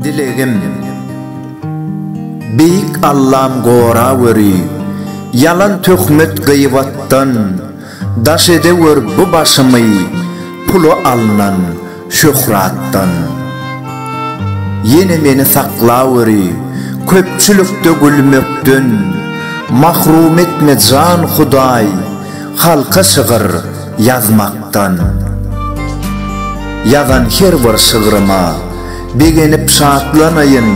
Dilegim Beýik Allam gorap öri, Ýalan töhmet gyýwatdan, Daş edewör bu başymy pula alnan şöhratdan. Ýene meni saklaweri köpçülikde gülmekden. Mahrum etme jan Hudaý halka şygyr ýazmakdan. Ýazan her bir şygryma. Begenip şatlanaýyn,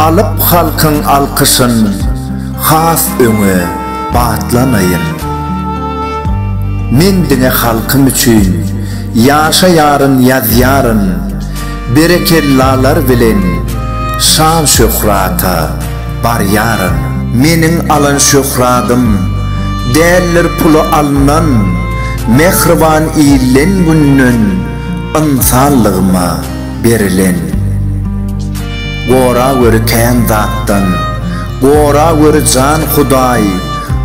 alyp halkyň alkyşyn, has öňe batlanaýyn. Men diňe halkym üçin ýaşaýaryn, ýazýaryn, berekellalar bilen şan-şöhrata barýaryn. Meniň alan şöhradym, däldir pula alnan, mähriban ilden-günden ynsanlygyma. berilen. Gora göri kän zatdan, gora göri jan Hudaý,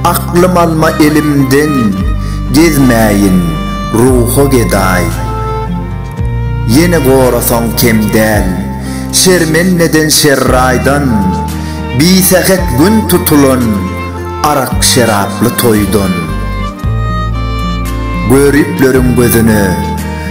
Aklym alma elimden, gezmäýin ruha gedaý. Ýene gorasaň kem däl, şermendeden şerraýdan, Bisähet gün tutulan, arak-şeraply toýdan. Göripleriň gözüne,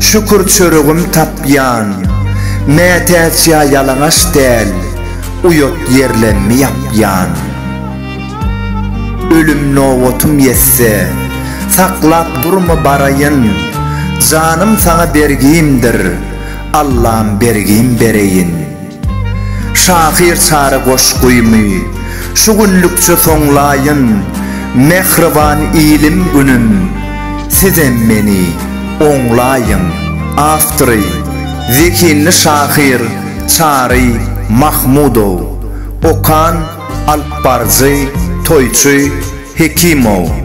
Şükür çöregim tapýan. Mätäç ýa ýalaňaç däl, uýat ýerlemmi ýapýan. Ölüm nobatym ýetse, saklap durma baraýyn, janym saňa bergimdir, Allam bergim bereýin. Şahyr çary goşgymy şu günlükçe soňlaýyn Mähriban ilim günüm sizem meni oňlaýyň Awtory, zehinli şahyr Çary Mahmudow Okan alypbaryjy Toýçy Hekimow.